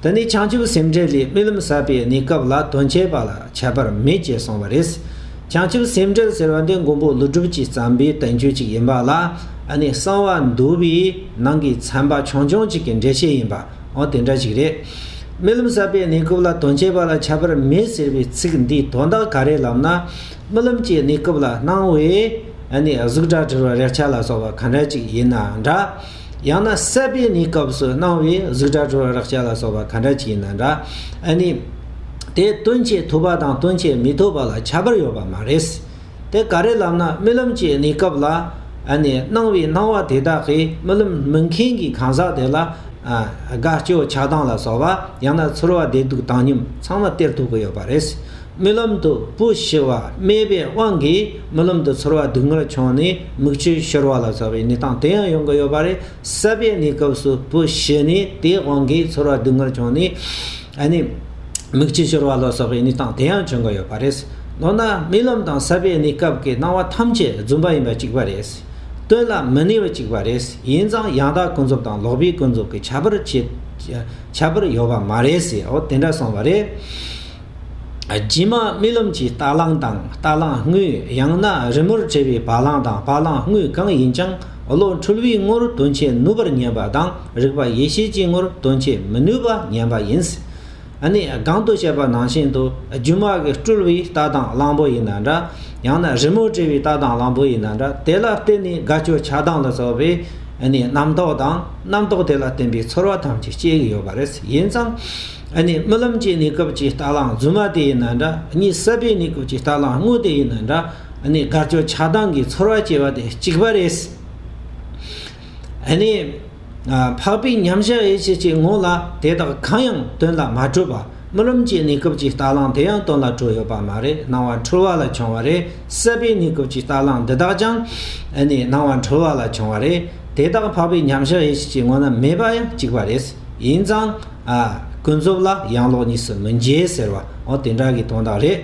འདི་ནི་བྱང་ཆུབ་སེམས་འགྲེལ་ལས་རྨི་ལམ་ཟབ་པའི་གནས་སྐབས་ལ་དོན་བྱེད་པ་ལ་ཁྱད་པར་མེད་ཅེས་གསུངས་པ་རེད། བྱང་ཆུབ་སེམས་འགྲེལ་ཟེར་བ་འདི་མགོན་པོ་ཀླུ་སྒྲུབ་ཀྱིས་བརྩམས་པའི་དོན་བརྒྱུད་ཅིག་ཡིན་པ་ལ་ཨ་ནི་གསང་བ་འདུལ་བའི་ནང་གི་ཚན་པ་ཆུང་ཆུང་ཅིག་གི་འགྲེལ་བྱེད་ཡིན་པའང་དེ་འདྲ་ཞིག་རེད། རྨི་ལམ་ཟབ་པའི་གནས་སྐབས་ལ་དོན་བྱེད་པ་ལ་ཁྱད་པར་མེད་ཟེར་བའི་ཚིག་འདིའི་དོན་དག་ག་རེ་ལབ་ན་རྨི་ལམ་གྱི་གནས་སྐབས་ལ་སྣང་བའི་ཨ་ནི་གཟུགས་སྒྲ་དྲི་རོ་རེག་བྱ་ལ་སོགས་པ་ག་འདྲ་ཅིག་ཡིན་ན་འདྲ། ཡང་ན་གསད་པའི་ནི་སྐབས་སུ་སྣང་བའི་གཟུགས་སྒྲ་དྲོད་རེག་བྱ་ལ་སོགས་པ་གང་འདྲ་ཅིག་ཡིན་ན་འདྲ། ཨ་ནི། དེ་སྟོན་བྱེད་ཐོབ་པ་དང་སྟོན་བྱེད་མི་ཐོབ་པ་ལ་ཁྱད་པར་ཡོད་པ་མ་རེད། དེ་ག་རེ་ལབ་ན་རྨི་ལམ་གྱི་ནི་སྐབས་ལ། ཨ་ནི་སྣང་བའི་སྣང་བ་དེ་དག་གིས་རྨི་ལམ་རྨི་མཁན་གྱི་གང་ཟག་དེ་ལ། དགའ་སྐྱོ་ཆགས་སྡང་ལ་སོགས་པ་ཡང་ན་ཚོར་བ་བདེ་སྡུག་བཏང་སྙོམས་ཚང་མ་སྟེར་ཐུབ་ཀྱི་ཡོད་པ་རེད། རྨི་ལམ་དུ་སྤུ་ཞི་བ་སྨྲས་པའི་དབང་གིས་རྨི་ལམ་དུ་ཚོར་བ་སྡུག་བསྔལ་བྱུང་ནས། མིག་ཆུ་ཤོར་བ་ལ་སོགས་པའི་གནས་སྟངས་དེ་ཡང་ཡོང་གི་ཡོད་པ་རེད། ས་པའི་གནས་སྐབས་སུ་པུ་ཤི་ནས་དེའི་དབང་གིས་ཚོར་བ་སྡུག་བསྔལ་བྱུང་ནས། ཨ་ནི། མིག་ཆུ་ཤོར་བ་ལ་སོགས་པའི་གནས་སྟངས་དེ་ཡང་བྱུང་གི་ཡོད་པ་རེད། འོ་ན་རྨི་ལམ་དང་ས་པའི་གནས་སྐབས་ཀྱི་སྣང་བ་ཐམས་ཅད་རྫུན་པ་ཡིན་པ་གཅིག་པ་རེད། སྟོན་ལ་མི་གནས་པ་གཅིག་པ་རེད། ཡིན་ཙང་ཡང་དག་ཀུན་རྫོབ་དང་ལོག་པའི་ཀུན་རྫོབ་ཀྱི་ཁྱད་པར་ཁྱད་པར་ཡོད་པ་མ་རེད། འོ་དེ་འདྲ་སོང་བ་རེད། རྗེས་མ་རྨི་ལམ་གྱི་རྟ་གླང་དང་རྟ་གླང་དངོས་ཡང་ན་རི་མོར་བྲིས་པའི་བ་གླང་དང་བ་གླང་དངོས་གང་ཡིན་ཀྱང་བློ་འཁྲུལ་བའི་ངོར་དོན་བྱེད་ནུས་པར་ཉན་པ་དང་རིག་པ་ཡེ་ཤེས་ཀྱི་ངོར་དོན་བྱེད་མི་ནུས་པ་ཉན་པ་ཡིན། ནས་གང་དུ་བཤད་པ་ནང་བཞིན་དུ་རྒྱུ་མ་གིས་སྤྲུལ་བའི་རྟ་དང་གླང་པོ་ཡིན་ན་འདྲ། ཡང་ན་རི་མོར་བྲིས་པའི་རྟ་དང་གླང་པོ་ཡིན་ན་འདྲ་དེ་ལ་བརྟེན་ནས་དགའ་སྐྱོ་ཆགས་སྡང་ལ་སོགས་པའི། རྣམ་རྟོག་དང་རྣམ་རྟོག་དེ་ལ་བརྟེན་པའི་ཚོར་བ་ཐམས་ཅད་སྐྱེ་གི་ཡོད་པ་རེད། ཡིན་ཙང། ཨ་ནི་རྨི་ལམ་གྱི་གནས་སྐབས་ཀྱི་རྟ་གླང་རྫུན་མ་དེ་ཡིན་ན་འདྲ་གཉིད་གསད་པའི་གནས་སྐབས་ཀྱི་རྟ་གླང་དངོས་དེ་ཡིན་ན་འདྲ་ཨ་ནི་དགའ་སྐྱོ་ཆགས་སྡང་གི་ཚོར་བ་སྐྱེ་བ་དེ་གཅིག་པ་རེད། ཨ་ནི། འཕགས་པའི་མཉམ་གཞག་ཡིད་བྱེད་ཀྱི་ངོ་ལ་དེ་དག་གང་ཡང་དོན་ལ་མ་འཕྲོད་པ་རྨི་ལམ་གྱི་གནས་སྐབས་ཀྱི་རྟ་གླང་དེ་ཡང་དོན་ལ་འཕྲོད་ཡོད་པ་མ་རེད་སྣང་བ་འཁྲུལ་བ་ལ་བྱུང་བ་རེད་གསད་པའི་གནས་སྐབས་ཀྱི་རྟ་གླང་འདི་དག་ཀྱང་ཨ་ནི་སྣང་བ་འཁྲུལ་བ་ལ་བྱུང་བ་རེད་དེ་དག་འཕགས་པའི་མཉམ་གཞག་ཡིད་བྱེད་ཀྱི་ངོ་ན་མེད་པ་ཡང་གཅིག་པ་རེད། ཡིན་ཙང། ཀུན་རྫོབ་ལ་ཡང་ལོག་གཉིས་སུ་མི་འགྱེད་ཟེར་བ་འོ་དེ་འདྲ་གི་དོན་དག་རེད།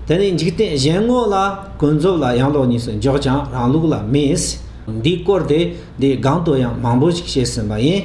དེ་ནི་འཇིག་རྟེན་གཞན་དངོས་ལ་ཀུན་རྫོབ་ལ་ཡང་ལོག་གཉིས་སུ་འཇོག་ཀྱང་རང་ལུགས་ལ་མི། འདིའི་སྐོར་དེ་འདིའི་སྒང་དུ་ཡང་མང་པོ་ཞིག་བཤད་ཟིན་པ་ཡིན།